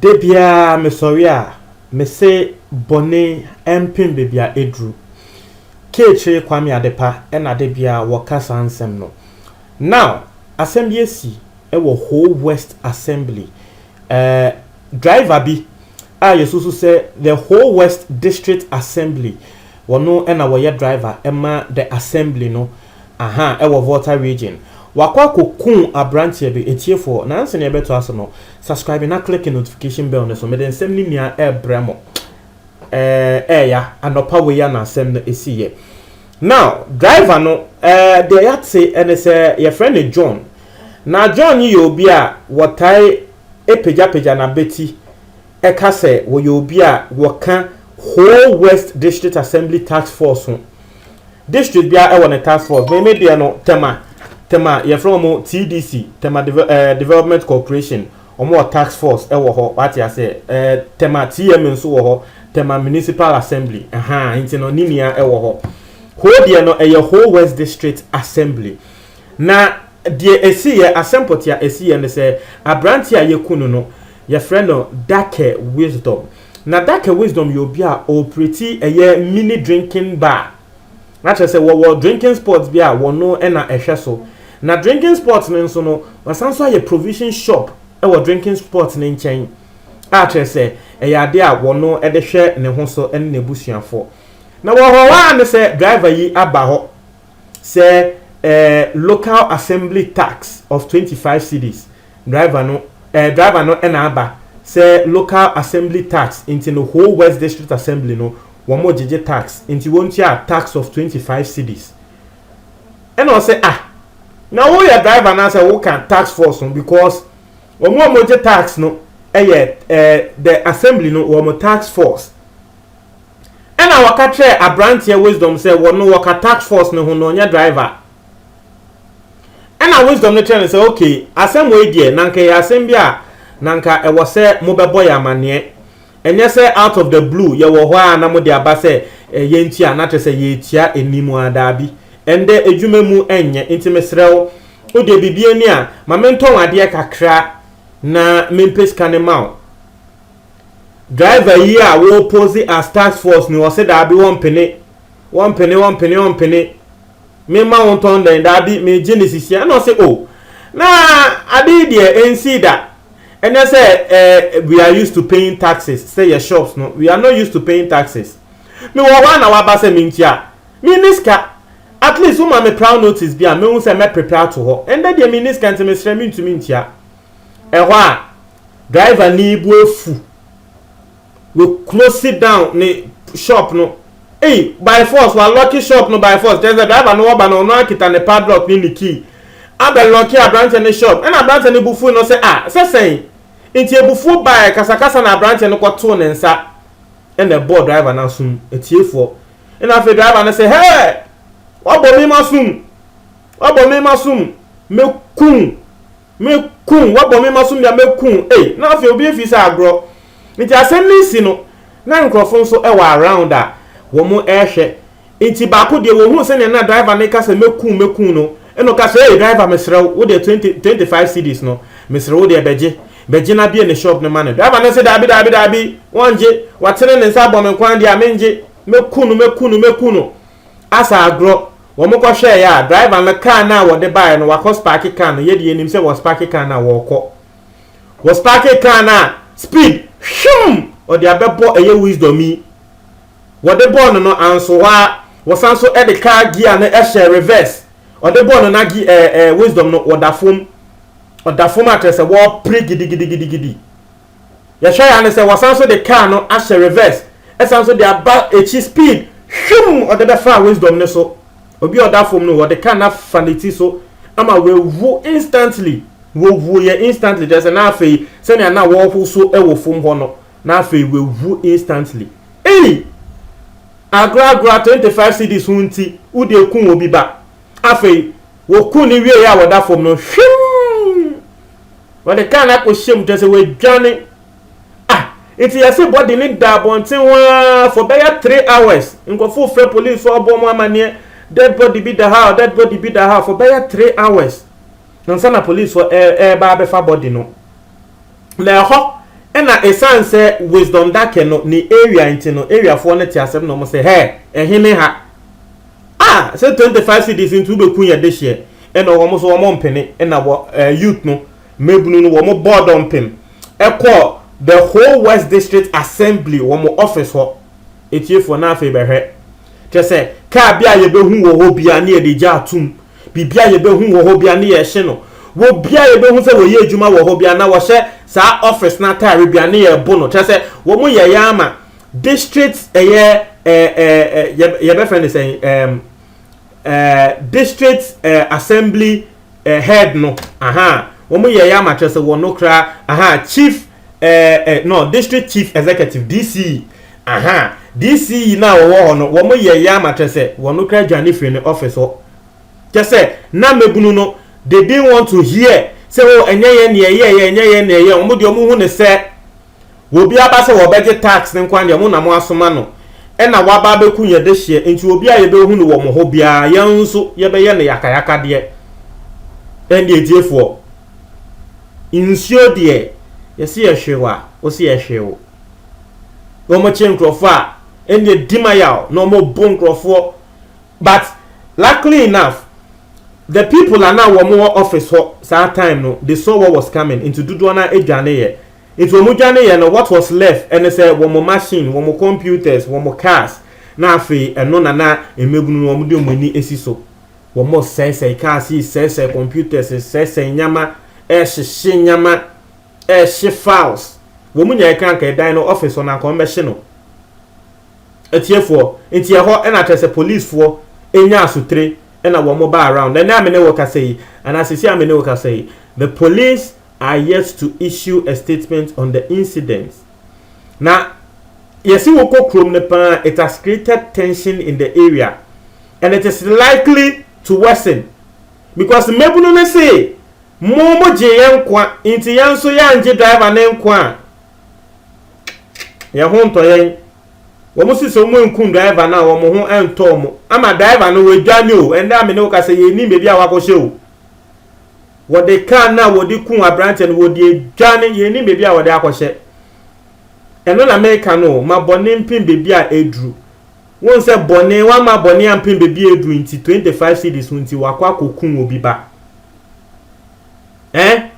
Da biara mesɔre a, mese bɔne mpem baabi a eduru. Keekyere Kwame Adepa na da biara wɔka saa nsɛm no. Now, asɛm bi asi wɔ Ho West Assembly Eh, driver bi a yɛsusu sɛ the whole West District Assembly wɔno na wɔyɛ driver ma the Assembly no aha ɛwɔ Volta Region wakɔ akɔkuu abranteɛ bi ɛtiefoɔ na ansa na yɛbɛtoa so no subscribe na click notification bell no so mede nsɛm no nyinaa ɛbrɛ mo eh, ɛɛya anɔpa wei na asɛm no ɛsiiɛ now driver no eh, deɛ yɛate ɛne sɛ yɛfrɛ no John Ná John yɛ obi a wɔtaa pagyapagya n'abati ka sɛ wɔyɛ obi a wɔka Ho West District Assembly Task Force ho. District biara wɔ ne task force. Me me deɛ no, Tema, Tema, yɛfrɛ wɔn TDC, Tema Deve eh, Development Corporation, wɔn wɔ task force wɔ hɔ, wate aseɛ. Eh, Tema TM nso wɔ hɔ, Tema Municipal Assembly, ɛhaa, nti no, ne nua wɔ hɔ. Ho deɛ no, ɛyɛ Ho West District Assembly. Na deɛ ɛsiiɛ, asɛm pɔtee a ɛsiiɛ ne sɛ, aberanteɛ a yɛaku no no, yɛfrɛ no Dake Wisdom. Na Dake Wisdom yɛ obi a ɔɔpreti ɛyɛ mini drinking bar. Na kyerɛ sɛ wɔwɔ drinking spot bi a wɔno na ɛhwɛ so. Na drinking spot no nso no, wɔasan nso ayɛ provision shop wɔ drinking spot no nkyɛn a kyerɛ sɛ ɛyɛ adeɛ a wɔno de hwɛ ne ho so ne n'abusuafoɔ. Na wɔwɔ hɔ ara ne sɛ driver yi aba hɔ. sɛ ɛɛ local assembly tax of twenty five cedis driver no ɛɛ driver no ɛna aba sɛ local assembly tax nti no whole west district assembly no wɔn mo gyegye tax nti wɔn tua tax of twenty five cedis ɛna ɔsɛ ah na wo yɛ driver na sɛ wo ka tax force no because wɔn a wɔn gye tax no ɛyɛ ɛɛ the assembly no wɔn tax force. Ɛna wɔka kyerɛɛ abranteɛ Wisdom sɛ wɔ no wɔka tax force no ho na ɔnyɛ driver. Ɛna Wisdom no kyerɛ no sɛ ok asɛm wei deɛ na nka ɛyɛ asɛm bi a na nka ɛwɔ sɛ mo bɛbɔ yɛ amaneɛ. Ɛnyɛ sɛ out of the blue yɛ wɔ hɔ ara na mo de aba sɛ eh, yɛn tia na kyerɛ sɛ yɛretia anim a daabi. Ɛndɛ adwuma mu ɛnyɛ nti mesrɛ wo wo deɛ biribi ani a ma mentɔn adeɛ kakra na mempɛ sika no ma wo. Driver yi a wɔpose as task force ni ɔse daabi wɔmpene wɔmpene wɔmpene wɔmpene me ma wo ntɔn dɛn daabi megye ne sisi ɛna ɔse o oh, na ade yi deɛ ɛnsii da ɛnyɛ sɛ eh, we are used to paying taxes sɛ yɛ shops no we are not used to paying taxes mewɔ hɔ a na waba sɛ mentua menni sika at least woma me prior notice bi a mehu sɛ mɛprepare ato hɔ ɛndɛ deɛ menni sika nti mesrɛ mentumi ntua Ɛhɔ a, driver no bo afu. We close down ne shop no. Ei, by force, wa lock shop no by force. Kyerɛ sɛ driver no ɔba no, ɔno akita ne padlock ne ne key. Abɛ lock aberanteɛ no shop. Ɛna aberanteɛ no bo fui no sɛ, ah, sɛ sɛn? Nti abufuo baeɛ, kasakasa na aberanteɛ no kɔtoo ne nsa na ɛbɔɔ driver no asom. Atiefoɔ. Ɛna afei driver no sɛ, hɛɛ, wabɔ me masom. Wabɔ me masom. Mɛkum. Me kun wabɔ me maso mia me kun ei na afei obi afi sɛ agorɔ nti asɛm no si no na nkorɔfo nso wɔ around a wɔn ɛrehwɛ nti baako deɛ wɔhuu sɛnea na driver no reka sɛ me kun me kun no ɛna ɔka sɛ ei driver mesrɛ wo wodeɛ twenty twenty five cedis no mesrɛ wodeɛ bɛgye bɛgye na bie ne shop no ma no driver no se daabi daabi daabi wɔngye watene ne nsa abɔ me kwan deɛ a mengye mɛku no mɛku no mɛku no asa agorɔ Wɔkɔhwɛeɛ a, driver no kaa no a wɔde baeɛ no, wakɔ spaake kaa no. Yɛde yɛnim sɛ wɔ spaake kaa no a, wɔrekɔ. Wɔ spaake kaa no a, speed, hwim! Ɔde abɛbɔ ɛyɛ wisdom yi. Wɔde bɔɔ no no, anso hɔ ara. Wɔsan so de car gear no hyɛɛ reverse. Ɔde bɔɔ no no age, ɛɛ, ɛɛ, wisdom no, wɔda fam. Ɔda fam a, kyerɛ sɛ wɔrepere gidigidigidigidi. Yɛhwɛ ya ne sɛ wɔsan so de car no ahyɛ reverse ɛsan so de aba akyi speed hwimm ɔde bɛfaa Wisdom no so. Obi a ɔda fam no wɔde car no afa ne ti so ama wawu instantly. Wɔwuiɛ instantly kyerɛ sɛ na afei sɛnea na wɔrehoso wɔ fam hɔ no na afei wawu instantly. Ei! Agoragora 25 cedis ho nti wode aku obi ba. Afei wɔku no wieeɛ a ɔda fam no hwimm! Wɔde kaa no akɔhyɛ mu, kyerɛ sɛ wɔadwane. Ah, nti yɛse bɔ de ne da abɔnten hɔ ara for bɛyɛ three hours. Nkurɔfo frɛ police fo abɔ wɔn amanneɛ, dead body bi da ha, dead body bi da ha for bɛyɛ three hours. Ansa na police fo ɛreba abɛfa body no. Na ɛhɔ ɛna ɛsan sɛ wisdom dake no ne area nti no, area foɔ no te asɛm na wɔn sɛ, hɛ, ɛhene ha. Ah sɛ twenty five cedis nti wobɛku yɛ dehyeɛ ɛna wɔn so wɔn mpene ɛna wɔ ɛɛ eh, youth no mmabunu no wɔn bɔɔ dɔmpem ɛkɔ the whole west district assembly wɔn office hɔ etiefoɔ na afei bɛhwɛ kyɛ sɛ kaa bi a yɛbɛhu wɔ hɔ bia ne yɛde gya atum biribi a yɛbɛhu wɔ hɔ bia ne yɛhye no wɔ bia yɛbɛhu sɛ wɔyɛ adwuma wɔ hɔ bia na wɔhyɛ saa office no ataare bia ne yɛbo no kyɛ sɛ wɔn yɛyɛ ama District ɛyɛ ɛɛ ɛɛ yɛ yɛbɛfrɛ no sɛn ɛɛm ɛɛ district ɛɛ assembly ɛɛ head no aha wɔn yɛ yɛ ama kyerɛ sɛ wɔn no kora aha chief ɛɛ ɛɛ no district chief executive DC aha DC yi na wɔwɔ hɔ no wɔn yɛ yɛ ama kyerɛ sɛ wɔn no kora dwane firi ne office hɔ kyɛ sɛ na mɛbunu no they didn't want to hear sɛ o oh, ɛnyɛ yɛ nea ɛyɛ yɛ ɛnyɛ yɛ nea ɛyɛ wɔn deɛ wɔn hu ne sɛ Wɔ obi aba sɛ wɔbɛgye tax no nkoa deɛ mo na mo asoma no ɛna waba abɛku yɛn dehyeɛ nti obi a yɛbɛhu no wɔ mo hɔ biara yɛn nso yɛbɛyɛ no yakayakadeɛ ɛnde atiefoɔ nsuo deɛ yɛsi yɛhwee wa wosi yɛhwee wo wɔn kye nkurɔfoɔ a ɛnde dima yaw na wɔn bo nkurɔfoɔ but luckily enough the people are now wɔn wɔ office hɔ saa time no they saw what was coming nti dodoɔ no adwane yɛ Enti wɔn dwaneeɛ no what was left ɛne sɛ wɔn machine, wɔn computers, wɔn cars na afei ɛno na na mmabunu no wɔde wɔn ani si so. Wɔn resɛesɛe cars yi, resɛesɛe computers, resɛesɛe nneɛma, rehyehye nneɛma, rehye files. Wɔn nyinaa ɛka nka ɛdan no office hɔ no anka wɔmmɛhye no. Atiefoɔ, nti ɛhɔ ɛna kyerɛ sɛ policefoɔ ɛnya asotire ɛna wɔn ba around. Ɛnɛ a me ne wo kasa yi, anaa sisi a me ne wo kasa yi, the police are yet to issue a statement on the incident. Na yɛsi wokɔ kurom no paa it has created tension in the area and it is likely to worsen because mmabunu no se mo mo gye yɛn nkwa nti yɛn nso yɛangye driver ne nkwa a yɛn ho ntɔ yɛn. Wɔn si sɛ wɔn nkum driver no a wɔn ho ntɔ wɔn ama driver no wadwane o ɛnna a me ne wo kasa yɛn nim baabi a wakɔhyɛ o. Wɔde car no a wɔde kuu aberanteɛ no, wɔde adwane, yɛnnim baabi a wɔde akɔhyɛ. Ɛno na meka no o, ma bɔne mpem baabi a aduru. Wohu sɛ bɔne, wɔamma bɔne ampem baabi a aduru nti, 25 cedis ho nti, wɔakɔ akɔkum obi ba. Ɛn?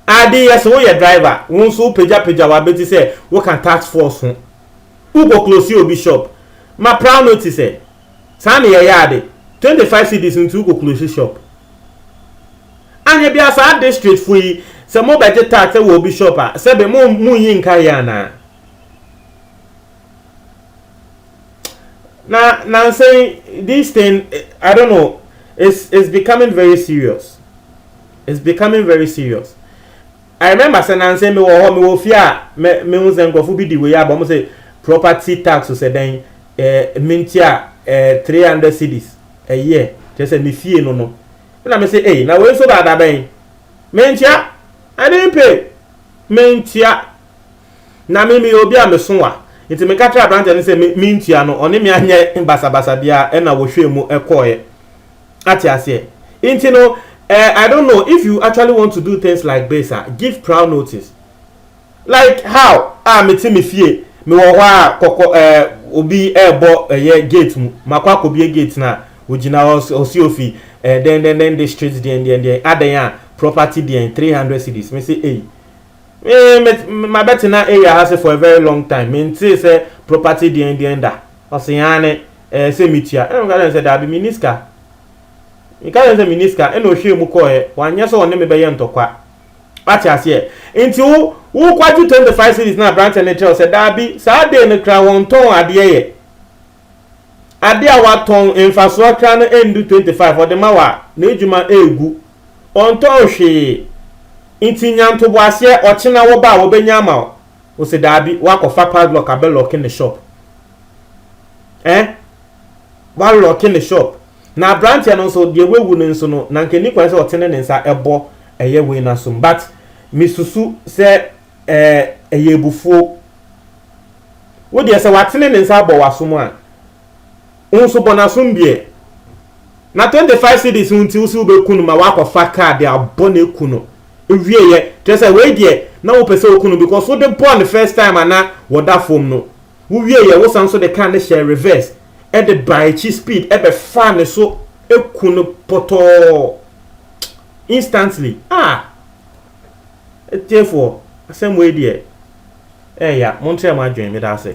Ade yɛ sɛ woyɛ driver, wo nso wopagyapagya w'abati sɛ woka task force ho. Wokɔ close obi shop, ma prior notice ɛ. Saa na yɛyɛ ade. Twenty five cedis nti wokɔ close shop. Anyɛ biaa saa district fo yi sɛ mo bɛgye tax wɔ obi shop a sɛbe mo mo nyi nka yɛ anaa? Na nansa yi this thing I don't know it's it's becoming very serious it's becoming very serious. I remember sɛ nanse me wɔ hɔ, me wɔ fie a me me hu sɛ nkorɔfo bi di wei aba, ɔmo se property tax o sɛ dɛn eh me ntua eh three hundred cedis a year, kyerɛ sɛ me fie no no, ɛna me se ei na wei nso baa da bɛn, me ntua, I didn't pay, me ntua, na me me yɛ obi a me so wa, nti me ka kyerɛ abranteɛ no sɛ me me ntua no, ɔne me anyɛ basabasa biara ɛna wɔhwɛɛ mu kɔɔɛ. Ate aseɛ? Nti no, eh, I don't know, if you actually want to do things like this a, give prior notice. Like how a ah, mete me fie, mewɔ hɔ a kɔkɔ eh, obi ɛrebɔ eh, ɛyɛ gate mu, makɔ akɔbie gate no a, ogyina hɔ ɔsi ofi eh, then then then district deɛn deɛn deɛn adɛn a property deɛn 300 cities, me se eyi. Eh, mabɛtena area ha se for a very long time, mentee sɛ property deɛn deɛn da. Ɔse yɛn aane ɛɛ sɛ metua ɛna meka kyerɛɛ no sɛ daabi menni sika meka kyerɛɛ no sɛ menni sika ɛna ɔhwɛɛ mu kɔɔɛ wanyɛ sɛ ɔne me bɛyɛ ntɔkwa wate aseɛ nti wo wo kwagye 25 cedis na aberanteɛ no kyerɛw sɛ daabi saa dee no kra wɔntɔn adeɛ yɛ adeɛ a watɔn mfasoɔ kra no ɛndu 25 ɔde ma wa na adwuma ɛɛgu ɔntɔn hwee nti nya ntoboaseɛ ɔkyena wɔba a wɔbɛnya ama wo Wo se daabi wakɔ fa padlock abɛ locke ne shop eh wa locke ne shop na abranteɛ no nso deɛ wawu no nso no na nka ni kwan sɛ ɔtene ne nsa ɛbɔ ɛyɛ wei no asom but me susu sɛ eh ɛyɛ ebufuo wo deɛ sɛ watene ne nsa abɔ wasom a wo nso bɔ nasom deɛ. Na twenty five cedis ho nti wo se wo bɛ ku no ma wakɔ fa car de abɔ no aku no ewie yɛ kyerɛ sɛ wei deɛ na wo pɛ sɛ oku no because wo de bɔɔ no first time a na wɔ da fom no wo wie yɛ wo san nso de car no hyɛɛ reverse ɛde baa akyi speed ɛbɛ faa ne so aku no pɔtɔɔ instantly ah atiefoɔ asɛm wei deɛ ɛɛya monkyerɛ mo adwen meda ase.